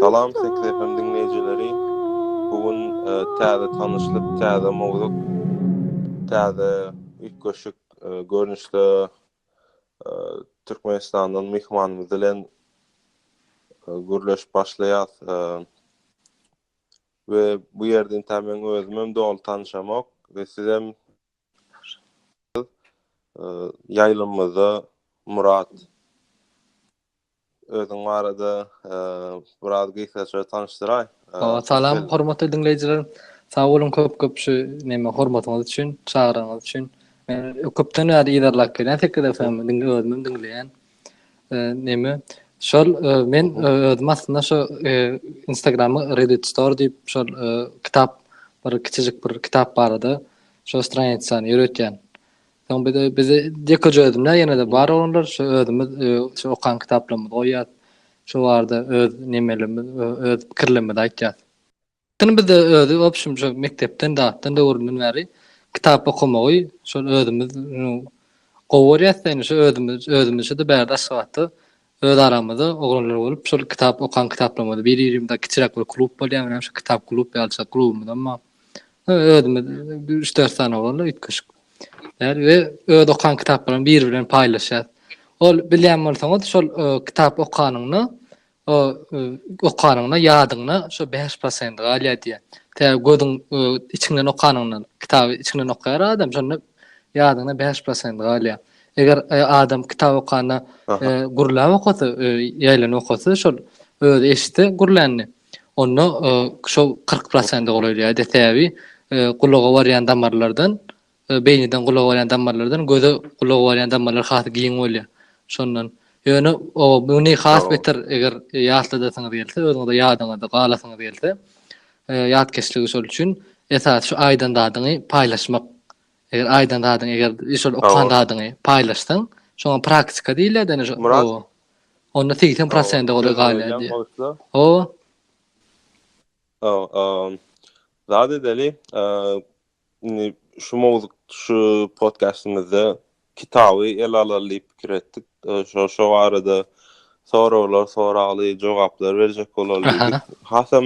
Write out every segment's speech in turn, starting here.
Salam Sekiz FM diňleýjileri bu gün täze tanyşlyk täze mowzuk täze üýtgeşik görnüşde Türkmenistandan myhmanymyz bilen gürleşip başlaýas. We bu ýerde inta meň özümem doly tanyşamok we sizem ýaýlymyzda Murat özüň barada biraz gysgaça tanyşdyraý. Salam hormatly diňleýjiler. Sag boluň köp köp şu näme hormatyňyz üçin, çagyranyňyz üçin. Men köpden bäri yzarlap gelýän Sekiz FM-i diňleýän. Neme? Şol men özüm aslynda şu Instagramy Reddit Store diýip şol kitap bir kiçijik bir kitap barada şu stranitsany ýöretýän. Soň bir de bizi dekaja özümler ýene de bar olanlar şu özümiz şu okan kitaplarymyzy goýýas. Şu barada öz nemelerimiz, öz pikirlerimizi aýtýas. Ýöne bizde özi obşim şo mekdepden zatdan döwründen bäri kitap okamagy şol özümiz gowy görýäs ýöne şo özümiz özümizçe-de bärde Aşgabatda öz aramyzda oglanlar bolup şol kitap okan kitaplarymyzy bir-birimize kiçiräk bir klub bolýar menem şo kitap klub ýalyja klubumyzam bar. Özümiz üç-dört sany oglanlar üýtgeşik ýary we öz okan kitaplarymy bir bilen paýlaşýas. Ol bilýän bolsaňyz şol kitap okanyňda O okanyňda ýadyňda şo bäş prosent galýar diýýär. Tä gözüň içiňden okanyňdan, kitaby içiňden okaýar adam, şonda ýadyňda bäş prosent galýar. Eger adam kitap okanda gürläp okasa, ýaýlanyp okasa, şol özi eşitse gürlänini, onda şo kyrk prosente golaýlaýar diýýär. Sebäbi gulaga barýan damarlardan Beýniden gulaga barýan damarlardan göze gulaga barýan damarlar has giň bolýar. Şondan. Ýöne o muny has beter eger ýatladasyňyz gelse, özüňize ýadyňyzda galasyňyz gelse, ýatkeşligi şol üçin esasy şu aýdan zadyňy paýlaşmak. Eger aýdan zadyňy eger şol okan zadyňy paýlaşsaň, şoňa praktika diýilýär däne şu. Murat. Onda 80% gowy galýar diýýär. O. Zat edeli, Indi şu mowzuk şu podkastymyzda kitaby ele alaly diýip pikir etdik. Şo şo barada soraglar, soragly jogaplar berjek bolaly diýdik. Hasam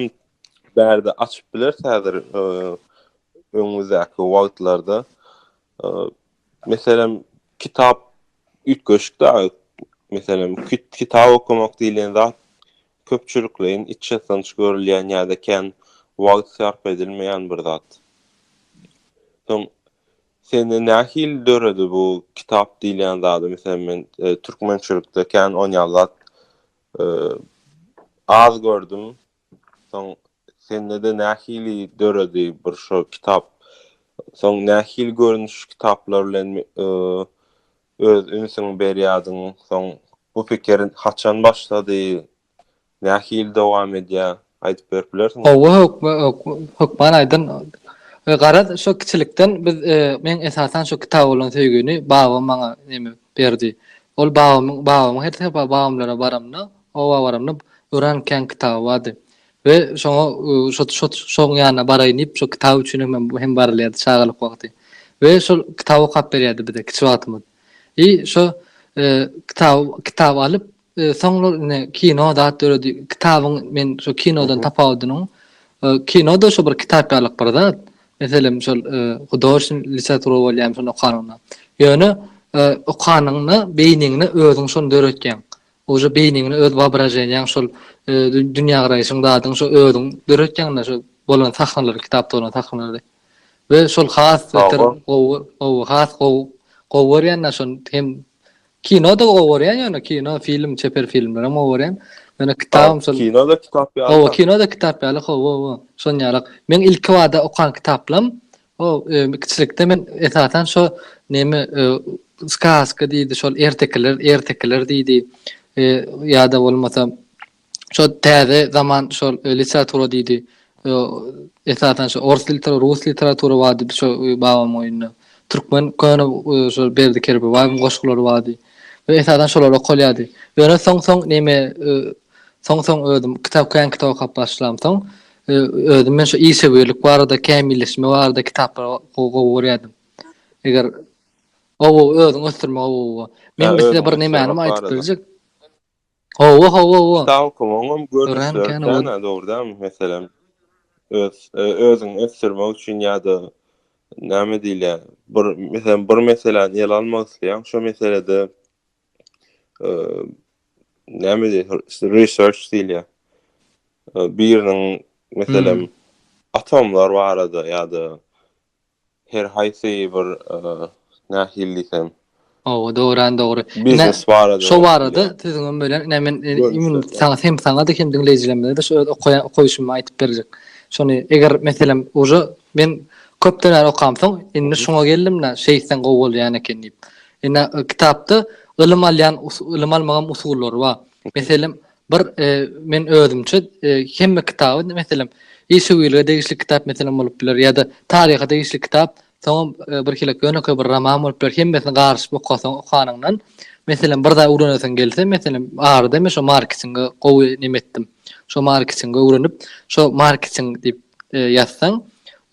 bärde açyp biler häzir e, öňümizdäki wagtlarda. E, meselem, kitap üýtgeşik da. Meselem, kitap okumak diýlen zat köpçülikleýin içýatanç görülýän ýa-da kän wagt sarp edilmeýän bir zat. Soň sende nähili döredi bu kitap diýilýän zady? Meselem, men türkmençilikde kän onýal zat az gördüm. Soň sende-de nähili döredi bir şo kitap? Soň nähili görnüşli kitaplar bilen öz ünsüňi berýärdiň? Soň bu pikir haçan başlady? Nähili dowam edýär? Aýdyp berip bilersiňmi? Hawa, hökman aýdaryn. Garaz, şo kiçilikden biz, men esasan şo kitaba bolan söýgini babam maňa berdi. Ol babamyň, babamyň her sebäp babamlara baramda, oba baramda öran kän kitaby bardy. We şoňa şo-şo-şoň ýanyna baraýyn diýip, şo kitap üçin hem men hem barylýardy çagalyk wagty. We şol kitaby okap berýärdi bize kiçi wagtymyz. I şo, e, kitaby kitaby alyp, e, soňlar ine kino zat döredi. Kitabyň men şo kinodan tapawudynyň, e, kino-da şo bir kitap ýalyk bir zat. Meselem, şol, e, hudoşn literatura bolýar şony okanyňda. Ýöne, e, okanyňda beýniňde özüň şony döretýäň. Uje beýniňi öz waobraženiýaň şol dünýägaraýşyň zadyň şo özüň döretýäňda şo bolan sahnalary kitapda bolan sahnalary we şol has beter gowy gowy has gowy gowy görýän da şon hem kino da gowy görýän ýöne kino film çeper filmler hem gowy görýän ýöne kitabym şol kino da kitap ýaly gowy kino da kitap ýaly gowy gowy şon ýalak meň ilki bada okan kitaplam Ho, kiçilikde men esasan şo neme skaska diýdi, şol ertekiler, ertekiler diýdi. E, ýa-da bolmasa şo täze zaman şol e, literatura diýdi. E, esasan şo ors literatura, rus literatura bardy şo e, babam oýunda. Türkmen köne e, şo Berdi Kerbibaýewiň goşgulary bardy. We esasan şolar okalýardy. Ýöne soň-soň neme e, soň-soň özüm kitap kän kitap okap başlamsoň, Özüm men şu işewürlik barada, kämilleşme barada kitaplary gowy gowy görýärdim. Eger owo özüň ösdürme owo. Men bir size bir nämäni aýdyp biljek. Owo owo owo. Kitap okamaň hem görnüşleri dogrudan meselem öz özüň ösdürmek üçin ýa-da näme diýilýär? Bir meselem bir meseläni ele almak isleýäň, şo meselede näme diýýär, research diýilýär. Biriniň, meselem, atomlar barada ýa-da her haýsy bir nähili diýsem, Hawa, dogran dogry. Biznes barada. Şo barada siziň hem böyle ine men saňa hem saňa hem diňleýjilerimize şu öz okaýan okaýşymy aýdyp berjek. Şony eger meselem uje men köpden bäri okamsoň indi şuňa geldim-de şeýtseň gowy bolýan eken diýip. Ine, kitapda ylym alýan, ylym almagam usullary bar. Meselem, bir men özümçe hemme kitaby, meselem, işewürlige degişli kitap meselem bolup biler ýa-da taryha degişli kitap, soňam birhili ýönekeý bir roman bolup biler, hemmesini garyşyp okasaň, okanyňdan, meselem, bir zat öwrenesiň gelse, meselem, arada men şo marketingi gowy näme etdim. Şo marketingi öwrenip, şo marketing diýip, ýazsaň,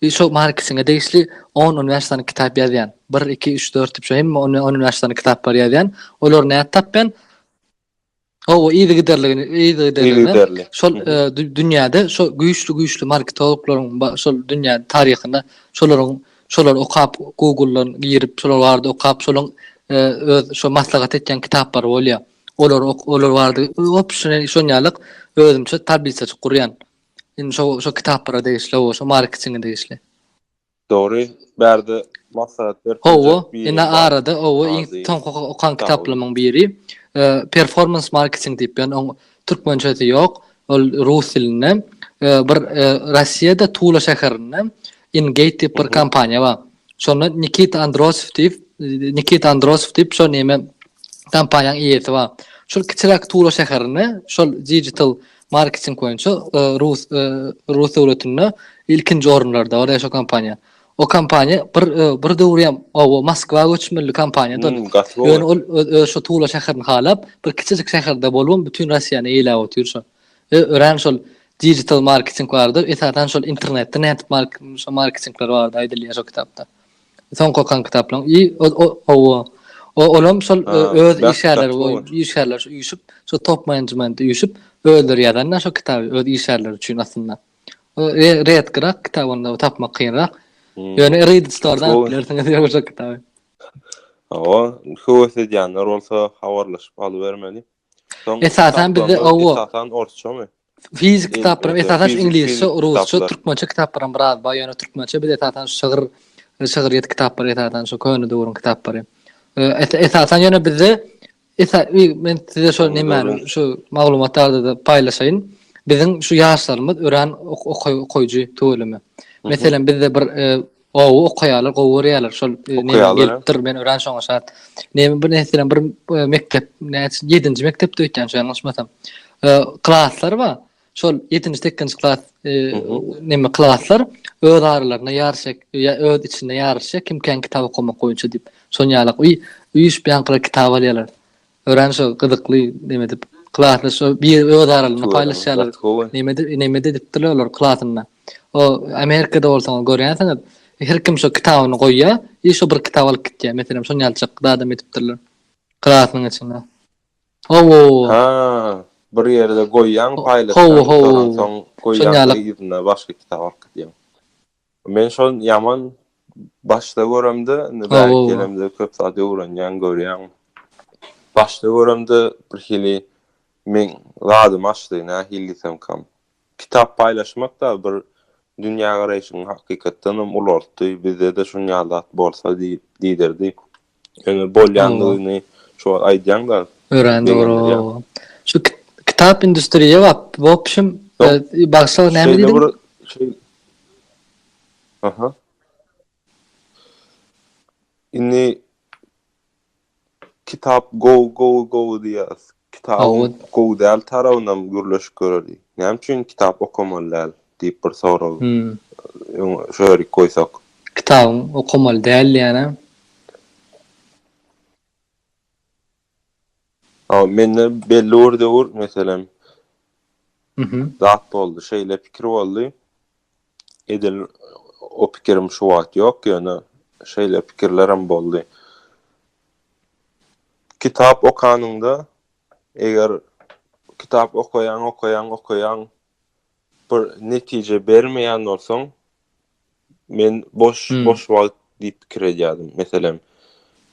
şo markesiňe degişli on, on bäş sany kitap ýazýan. Bir, iki, üç, dört diýip, şo hemme on, on bäş sany kitaplary ýazýan. Olary nädip tapýan? Hawa, yzygiderligini, yzygiderligini şol dünýäde şo güýçli-güýçli marketologlaryň şol dünýä taryhynda şolaryň şolary okap, Google-dan girip, şolar barada okap, şolaryň öz şo maslahat etýän kitaplary bolýar. Olary olar barada hopşyny şonýalyk özümçe tablisaçyk gurýan. Indi şo şo kitaplara degişli, o şo marketinge degişli. Dogry, bärde maslahat berip Owo, indi arada owo iň soňky okan kitaplarymyň biri, e, performance marketing diýip, ýani oň türkmençesi ýok, ol rus dilinde. E, bir e, Russiýada Tula şäherinde Ingate diýip bir kompaniýa bar. Şonda Nikita Androsow diýip, Nikita Androsow diýip şol näme kompaniýanyň eýesi bar. Şol kiçiräk Tula şäherinde şol digital marketing boýunça e, rus e, rus döwletinde ilkinji orunlarda bar şol kompaniýa. O kompaniýa bir e, bir döwür hem o Moskwa göçmeli kompaniýadan. Hmm, ol öz şu Tula şäherini halap, bir kiçijik şäherde bolup, bütün Russiýany eýläp otyr şol. Biz örän şol digital marketing barada, esasan şol internetde nädip marketingler barada aýdylýar şol kitapda. Soňky okan kitaplaryň i owo. Olam şol öz işgärleri we işgärler şu üýşüp, şol top management üýşüp özleri ýazanda şol kitaby öz işgärleri üçin aslynda. Redkirak kitap onda tapmak kynrak. Ýöne read store-dan alyp bilersiňiz ýa şol kitaby. Owo, höwes edýänler bolsa habarlaşyp alybermeli. Soň Esasan bizde kitaplarymyz owo. Esasan orsçamy? Fizik Em, kitaplarym öte, esasan fizik- iňlisçe, fizik rusça, kitaplar. türkmençe kitaplarym biraz bar. Ýöne türkmençe biz esasan şygyr, şygryýet kitaplary esasan şu köne döwrüň kitaplary. Ee, es- Esasan ýöne bizde esa- i- men size şol Köne nemäni döwrüň. şu maglumat barada paýlaşaýyn. Biziň şu ýaşlarymyz örän ok- okaý- okaýjy tüweleme. Meselem bizde bir e, Gowy okaýarlar, gowy görýärler. Şol näme gelipdir, men öran şoňa şat. Näme bir näseden bir mekdep, näçe 7-nji mekdepde öýtýän şu ýalňyşmasam. Klaslar bar. Şol 7-nji, 8-nji klas näme klaslar öz aralarynda ýaryşyk, öz içinde ýaryşyk, kim kän kitap okamak boýunça diýip. Şoň ýaly uýşup ýaňky kitap alýarlar. Örän şo gyzykly neme dip klasda şo bir öz aralyny paýlaşýarlar. Neme neme dipdirler olar klasynda. O Amerikada bolsaňyz görýänsiňiz. Her kim şo kitabyny goýýar, i şo bir kitap alyp gitýär. Meselem şon ýaljak zadam edipdirler. Klasynyň içinde. Hawa. Ha, bir ýerde goýýaň paýlaşýaň, ondan soň goýýaň yzyna başga kitap alyp gidýäň. Men şol ýaman başda göremde, indi bäri gelemde köp zat öwrenýän, görýän. Başda göremde bir hili men zadymy açdy, nähili diýsem kam. Kitap paýlaşmak da bir dünýägaraýşyňy hakykatdan hem ulaltdy, bizde-de şunýaly zat bolsa diýdirdi. Ýöne bolýandygyny şu wagt aýdýaňda. Örän dogry. Şu kitap industriýa bap, bopşym bagşa näme diýdiň? Aha. Indi kitap go go go diýýär. Kitabyň Dawud. gowy däl tarabynam gürleşip göreli. Näme üçin kitap okamaly däl diýip bir sorag Hümm. öň şu ýerik goýsak. Kitabyň okamaly däl diýýänä. A mende belli bir döwür meselem Mhm. zat boldy. Şeýle pikir boldy. Edil o pikirim şu wagt ýok, ýöne şeýle pikirlerim boldy. Kitap okanyňda, eger kitap okaýaň, okaýaň, okaýaň, bir netije bermeýän bolsaň, men boş, hmm. boş wagt diýip pikir edýärdim. Meselem,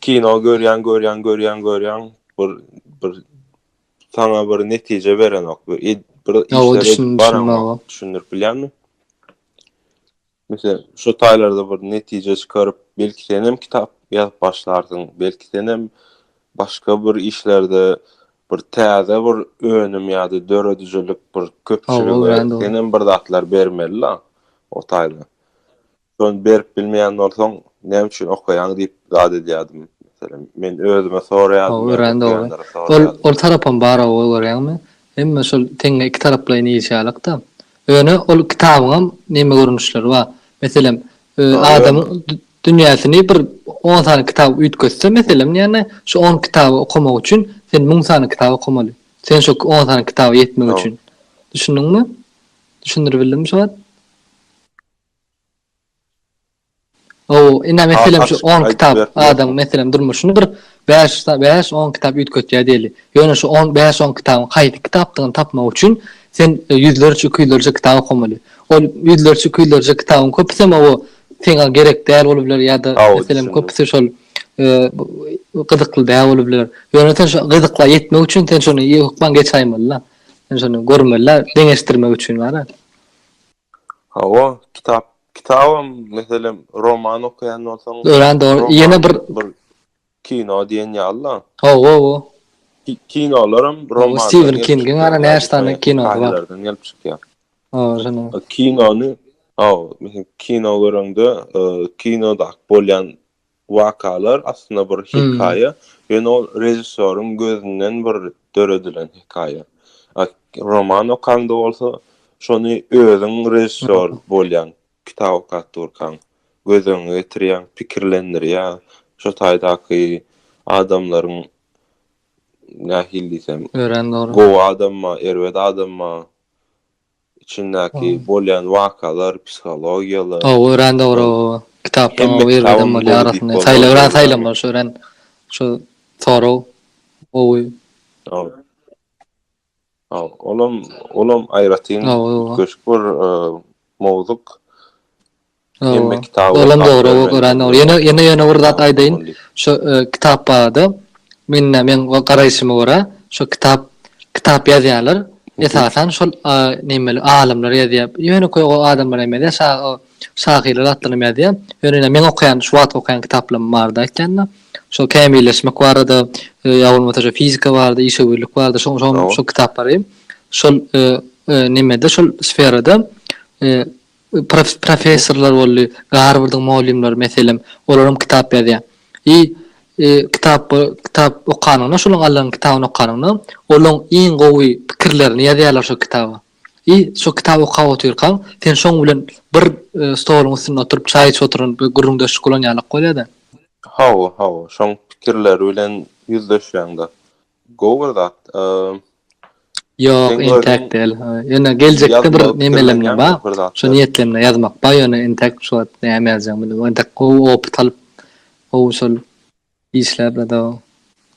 kino görýän, görýän, görýän, görýän, bir bir saňa bir netije berenok. Bir işleri baranok. Düşündirip bilýärmi? Mesela şu taýlarda bir netije çykaryp, belki sen hem kitap ýazyp başlarsyň, belki sen hem başga bir işlerde bir täze bir önüm ýa-da döredijilik bir köpçülige sen hem bir zatlar bermeli-la o taýda. Şony berip bilmeýän bolsaň, näme üçin okaýaň diýip zat edýärdim. Meselem, men özüme soraýardym. Hawa, örän dogry. Ol, ol tarapam bar-ow, görýäňmi? Hemme şol teňňe iki taraplaýyn işýärlik-dä. Ýöne ol kitabyňam näme görnüşleri bar. Meselem, adamyň dünýäsini bir on sany kitap üýtgetse, meselem, ýagny şu on kitaby okamak üçin sen müň sany kitap okamaly. Sen şo on sany kitaba ýetmek üçin. Düşündiňmi? Düşündiribildimmi şu wagt? Hawa, ine meselem şu on kitap adam meselem durmuşyny bir bäş, bäş, on kitap üýtgetýär diýeli. Ýöne şu on, bäş, on kitabyň haýsy kitapdygyny tapmak üçin sen ýüzlerçe, iki ýüzlerçe kitap okamaly. Ol ýüzlerçe, iki ýüzlerçe kitabyň köpüsem hawa seňa gerek däl bolup biler ýa-da meselem köpüsi şol gyzykly däl bolup biler. Ýöne sen şu gyzykla ýetmek üçin sen şony hökman geçäýmeli-de. Sen şony görmeli-de, deňeşdirmek üçin bar-a. Hawa, kitap, kitabam, meselem, roman okaýan bolsaň, Örän dogry. Ýene bir kino diýen ýaly-da. Hawa, hawa. Kinolaram romandan. Stiwen Kingiň ara näşsany kinosy bar. Romanlardan gelip çykýar. Hawa, şonuň. Kinony, hawa, kino göreňde, kinoda bolýan wakalar aslynda bir hekaýa, ýöne ol režissýoryň gözünden bir döredilen hekaýa. Roman okaňda bolsa, şony özüň režissýor bolýaň, kitap okap durkaň, göz öňüňe getirýäň, pikirlendirýär, şo taýdaky adamlaryň nähili diýsem, gowy adammy, erbet adammy, içindäki bolýan wakalar, psihologiýalar. Hawa, örän dogry o kitapdan gowy ýerlerden bolýar arasynda. Saýlap örän saýlamaly şu örän şu sorag gowy. Hawa. Hawa, olam, olam aýratyn üýtgeşik bir mowzuk. Hemme kitaby Olam dogry, o örän dogry. Ýene ýene ýene bir zat aýdaýyn. Şo kitap barada mende meň garaýşyma görä, şo kitap kitap ýazýarlar. Esasan şol nämeler alymlar ýazýar. Ýönekeý o adamlar hem ýazýar. Şa o şahyrlar hakdan hem ýazýar. Ýöne meň okaýan şu wagt okaýan kitaplarym barada aýtýanda, şo kämilleşmek barada ýa bolmasa şo fizika barada, işewürlik barada şo şo şo kitaplary şol näme-de şol sferada Professorlar boldy, Garwardyň mugallymlary, meselem, olaram kitap ýazýar. I kitap kitap okanyňda, şolaň Allanyň kitabyny okanyňda, olaň iň gowy pikirlerini ýazýarlar şo kitaba. I şo kitaby okap otyrkaň, sen şoň bilen bir stoluň üstünde oturyp çaý içip oturan bir gürrüňdeşlik guran ýalyk bolýar-da. Hawa, hawa, şoň pikirleri bilen ýüzleşýäň-de. Gowy bir zat. Ýok, entek däl. Ýöne geljekde bir nemelerimiz bar. Şu niýetlerimde ýazmak bar, ýöne entek şu wagt näme ýazjagym bilmän. Entek gowy opyt alyp, gowy şol işläp ýa-da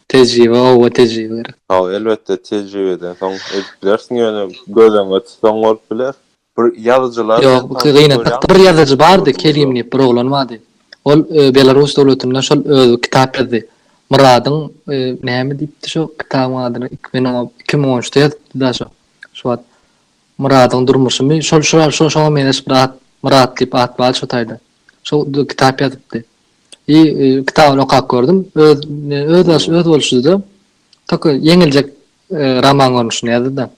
tejribe, oba tejribe gerek. Hawa, elbetde tejribeden soň edip bilersiň, ýöne göz öňünde tutsaň bolup biler. Bir ýazyjylar Ýok, bu gynatlyk. Bir ýazyjy bardy, Kerim diýip bir oglan bardy. Ol Belarus döwletinde şol özi kitap ýazdy. Myradyň näme diýipdi şo kitabyň adyny? Men oňa iki müň on üçde ýazypdym daş o. Şo wagt Myradyň durmuşymy şol şo şoňa meňzeş bir at Myrat diýip at bardy şo taýda. Şo kitap ýazypdy. I kitabyny okap gördüm. Öz öz öz bolşudyda. Toka ýeňiljek roman görnüşinde ýazdy-da.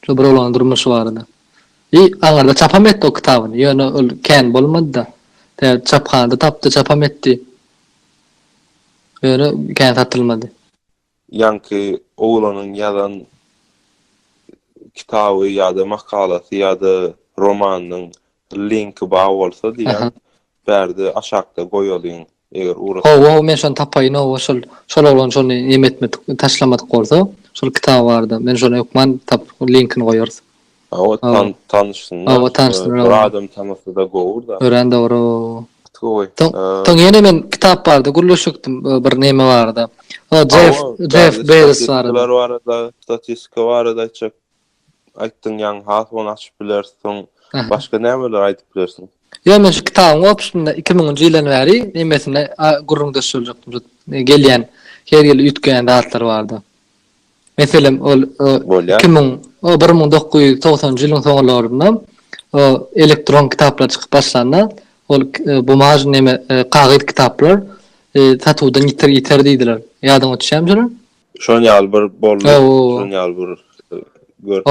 Şo bir oglanyň durmuşy barada. I aňyrda çapam etdi o kitabyny. Ýöne ol kän bolmady-da. Tä çaphanada tapdy, çapam etdi. Ýöne kän satylmady. Ýaňky oglanyň ýazan kitaby ýa-da makalasy ýa-da romanynyň Linki bar bolsa diýýän. Bärde aşakda goýalyň eger ugra. Hawa hawa men şony tapaýyn hawa şol şol oglan şony neme etmedik taşlamadyk bolsa şol kitaby barda men şony hökman tapyp linkini goýarys. Hawa tan tanyşsynlar. Hawa tanyşsynlar. Bir adam tanasa da gowur da. Örän dogry. Gowy. Ton ýene men kitap barda gürleşikdim bir neme barda. Hawa Jeff Jeff Bezos barda. Statistika barada aýtjak. aýtdyň ýaňy has ony açyp bileris soň başga nämeler aýdyp bilersiň? Ýok men şu kitabyň opusynda iki müňünji ýyldan bäri nemesinde gürrüňdeş boljakdym şu gelýän her ýyl üýtgeýän zatlar barda. Meselem ol iki müň o bir müň dokuz ýüz togsanjy ýylyň soňularynda o elektron kitaplar çykyp başlanda ol bumaj neme kagyz kitaplar satuwdan ýiter ýiter diýdiler. Ýadyňa düşýärmi şolar? Şon ýaly bir boldy. Şon ýaly bir görüp.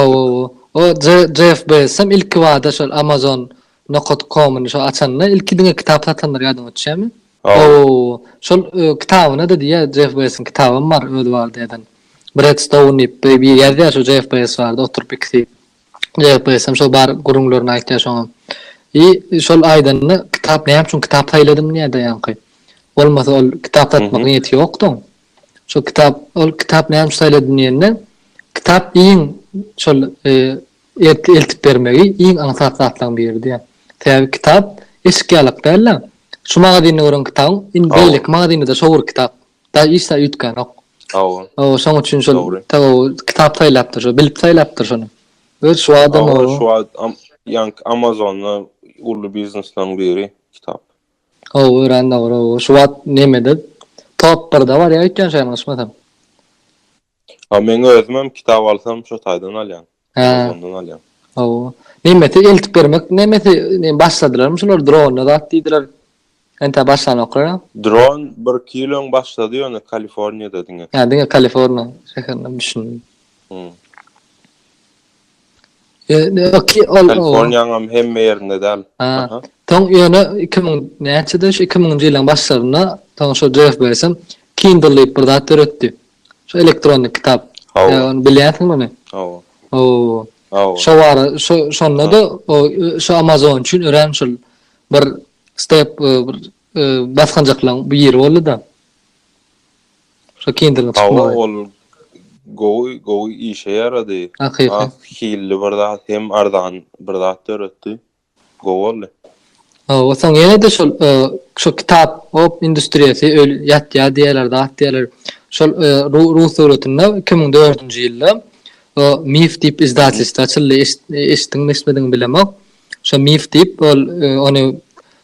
O Jeff Bezos hem ilki bada şol Amazon nokat komyny şo açanda ilki diňe kitap satandyr ýadyňa düşýärmi? Ow. Şol kitabyna da diýýär Jeff Bezosiň kitabym bar öz barada ýazan. Bredstone diýip bir ýazýar şo Jeff Bezos barada oturyp ikisi. Jeff Bezos hem şo bar gürrüňlerini aýtýar şoňa. I şol aýdanda kitap näme üçin kitap saýladym diýýär daýanky. Bolmasa ol kitap satmak niýeti ýokduň. Şol kitap, ol kitap näme üçin saýladym diýende, kitap iň şol ertir eltip bermegi iň aňsat zatlaryň biridi. Sebäbi kitap eşik ýalyk däl-de, şu magazinde gören kitabyň indi beýleki magazinde-de şo bir kitap, daýy hiç zat üýtgänok. Hawa. Hawa, şonuň üçin şol kitap saýlapdyr, şo bilip saýlapdyr şony. Öz şu wagtam. Hawa, şu wagt ýaňky Amazon-da uly biznesleriň biri kitap. Howwa örän dogry howwa şu wagt nemede top birde barýa öýtýän şeýle yşmasam. Hawa meň özümem kitap alsam şo taýdan alýan. Hä. Amazondan alýan. Howwa. Nemesi eltip bermek nemesi ne başladylarmy şular dronly zat diýdiler. Entä başlanoklar a? Dron bir iki ýyl öň başlady ýöne Kaliforniýada diňe. Hä diňe Kaliforniýa şäherinde düşündim. Hum. Kaliforniýanyň hemme ýerinde däl. Aha. Soň ýöne 2000 näçede şu 2000-nji ýylyň başlarynda soň şu Jeff Bezos Kindle diýip bir zat döretdi. Şu elektronnyk kitap. Hawa. Ony bilýänsiňmi ony? Hawa. Hawa. Hawa. Şo bar, şo şonda-da o şu Amazon üçin örän şol bir step bir basgançaklaryň biri boldy-da. Şokindiriň çykmagy. Hawa ol gowy gowy işe ýarady. Has hilli bir zat hem arzan bir zat döretdi. Gowy boldy. Hawa soň ýene-de şol şo kitap op industriýasy öl ýatýar diýýärler zat diýýärler. Şol rus döwletinde iki müň dördünji ýylda o mif diýip izdatelstwo açyldy eşitdiňmi eşitmediňmi bilemok. Şo mif diýip, ol ony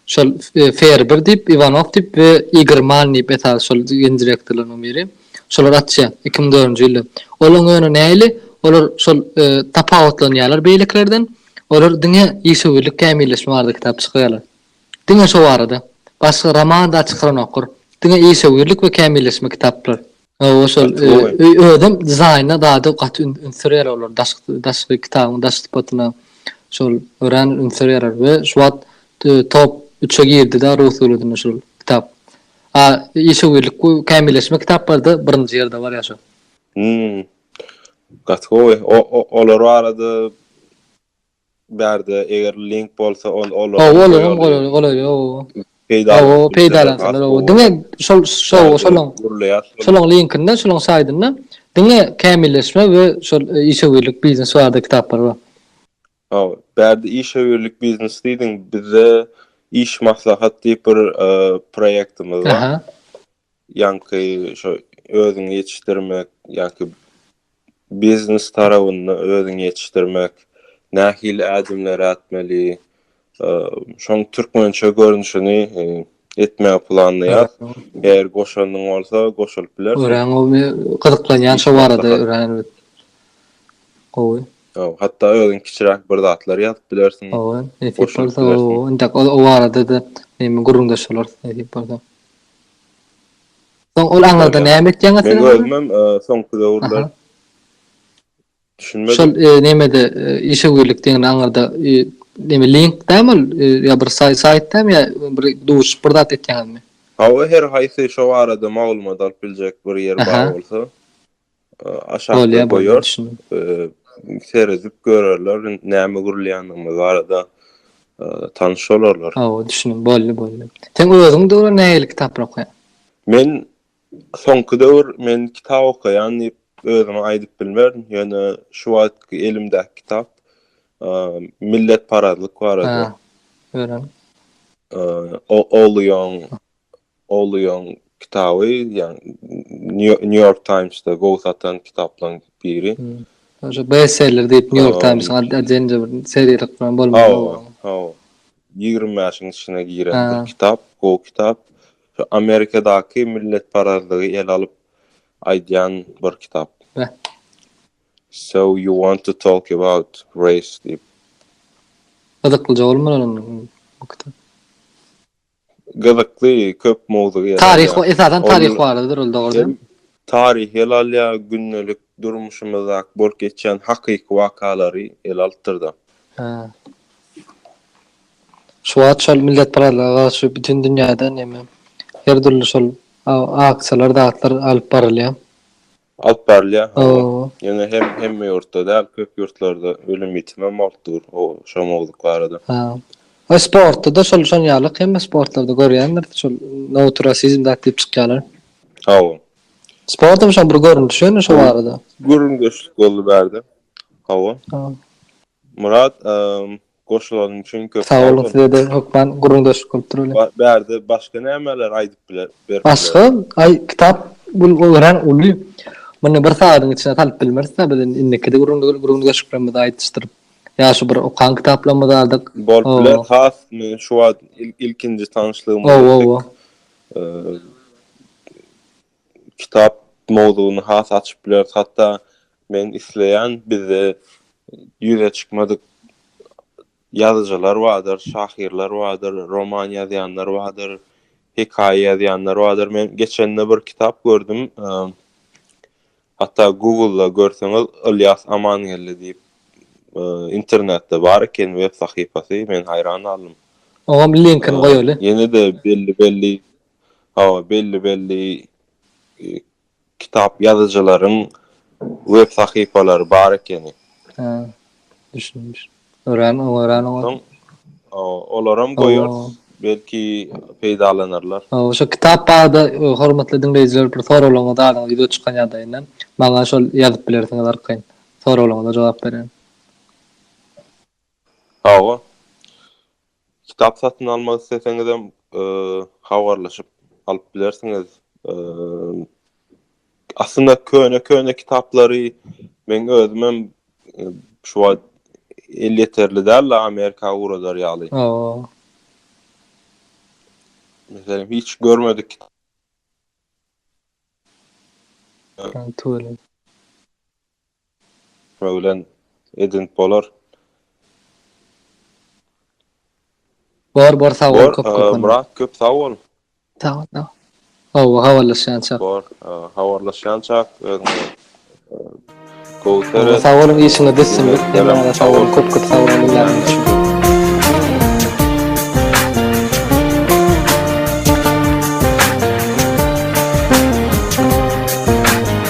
şol Ferber diýip, Iwanow diýip we Igor Mann diýip esasy şol ýeni direktorlarynyň biri. Şolar açýar, iki müň dördünji ýylda. Olaryň ýöne näili, olar şol tapawutlanýarlar beýlekilerden, olar diňe işewürlik kämilleşme barada kitap çykýarlar. Diňe şo barada. Başga roman-da çykaranoklar. Diňe işewürlik we kämilleşme kitaplary. Hawa şol özüm dizaýna zada gaty üns berýär olar daşky daşky kitabyň daş sypatyna şol örän üns berýärler we şu wagt top üçe girdi-de rus döwletinde şol kitap. A işewürlik bu kämilleşme kitaplarda birinji ýerde barýar şol. Gaty gowy. Olar barada bärde eger link bolsa ol ol Hawa ol hem golaý golaý hawa. Hawa peýdalansynlar hawa diňe şol şol şolaň şolaň linkinde şolaň saýdynda diňe kämilleşme we şol işewürlik biznes barada kitaplar bar. Hawa bärde işewürlik biznes diýdiň bizde iş maslahat diýip bir proýektimiz bar. ýaňky şo özüňi ýetişdirmek ýa-ki biznes tarabynda özüňi ýetişdirmek, nähili ädimleri ätmeli, şoň türkmençe görnüşini etmegi planlaýar. Eger goşanyň bolsa goşulyp biler. Örän gowy, gyzyklanýan şo barada örän gowy. Hawa, hatda özüň kiçiräk bir zatlar ýazyp bilersiň. Hawa, nesip bolsa, o barada-da gürrüňdeş bolarys, nesip bolsa. Soň ol aňyrda näme etýäňiz siz? Men özümem soňky döwürler düşünmedim. Şol nämede işe girdik diýende aňyrda näme link dämi ol ýa bir saýt dämi ýa bir duşup bir zat etýäňizmi? Hawa her haýsy şo barada maglumat alyp biljek bir ýer bar bolsa. aşakda goýarys. Seredip görerler näme gurulýandygyny barada tanyş bolarlar. Hawa, düşündim. Boldy, boldy. Sen özüň döwre nähili kitaplar okaýaň? Men soňky döwür men kitap okaýan diýip özüme aýdyp bilmerin, ýöne şu wagtky elimdäki kitap milletparazlyk barada. Öwren. Ogluyong Owluyň kitaby, ýagny New York Times-da gowy satan kitaplaryň biri. Şo bestseller diýip New York Times-yň atynda bir seriýalyk bilen bolmaly owlum. Hawa. Ýigrimi bäşiň içine giren bir kitap, gowy kitap. Şu Amerikadaky milletparazlygy ele alyp aýdýan bir kitap. Beh. So you want to talk about race diýip. Gyzyklyja bolmaly owlum bu kitap. Gyzykly köp mowzugy ele alýar. Taryh esasan taryh baradadyr ol dogrudan. Taryhy ele alýar, gündelik durmuşymyzdaky bolup geçýän hakyky wakalary ele alypdyrda. Hä. Şu wagt şol milletparazlyga garşy bütin dünýäde neme her dürli şol aksiýalar zatlar alyp barylýar. Alyp barylýar hawa. Ýöne hem hemme ýurtda däl, köp ýurtlarda ölüm-ýitim hem bolup dur o şo mowzuk barada. Ha. Ol sportda-da şol şon ýaly hemme sportlarda görýändir şol nohut rasizm zat diýip çykýarlar. Hawa. Sportam şoň bir görnüşi ýöne şo barada. Gürrüňdeşlik boldy bärde. Hawa. Murat, Goşulanyň üçin köp sag boluň. Sag boluň size de hökman gürrüňdeşlik bolup dur welin. Bärde başga nämeler aýdyp biler berk biler. Başga aý kitap gül örän uly muny bir sagadyň içine salyp bilmerisda biz indi indikide gürrüňdeşliklerimizi aýdyşdyryp ýa şu bir okan kitaplarymyzy aldyk. Bolup biler has men şu wagt ilkinji tanyşlygymyz etdik. kitap mowzugyny has açyp bileris. Hatda men isleýän bizde ýüze çykmadyk ýazyjylar bardyr, şahyrlar bardyr, roman ýazýanlar bardyr, hekaýa ýazýanlar bardyr. Men geçende bir kitap gördüm. Hatda Google-da görseňiz Ylýas Amangeldi diýip internetde bar eken web sahypasy. Men haýran galdym. Oňam linkini goýaly. Ýene-de belli-belli Hawa, belli-belli kitap ýazyjylaryň web sahypalary bar ekeni. Hä, düşdüm, düşdüm. Örän oňa, örän oňa. Soň, olaram goýarys, belki peýdalanarlar. Hawa, şo kitap barada hormatly diňleýjiler bir soraglaryňyzy alyň, wideo çykan ýagdaýynda. Maňa şol ýazyp bilersiňiz arkaýyn. Soraglaryňyza jogap bererin. Hawa. Kitap satyn almak isleseňizem, habarlaşyp alyp bilersiňiz. Aslynda köne-köne kitaplary meň özümem şu wagt elýeterli däl-de Amerika ugradar ýaly. Hawa. Meselem, hiç görmedik kitap. Tüweleme. bilen edinip bolar. Bor bor sag bol köp köp. Myrat köp sag bol. Sag bol. Hawa habarlaşýançak. Bor habarlaşýançak özüňe. Gowy seret. Sag boluň işiňiz düşsin. Sag boluň köp köp sag boluň.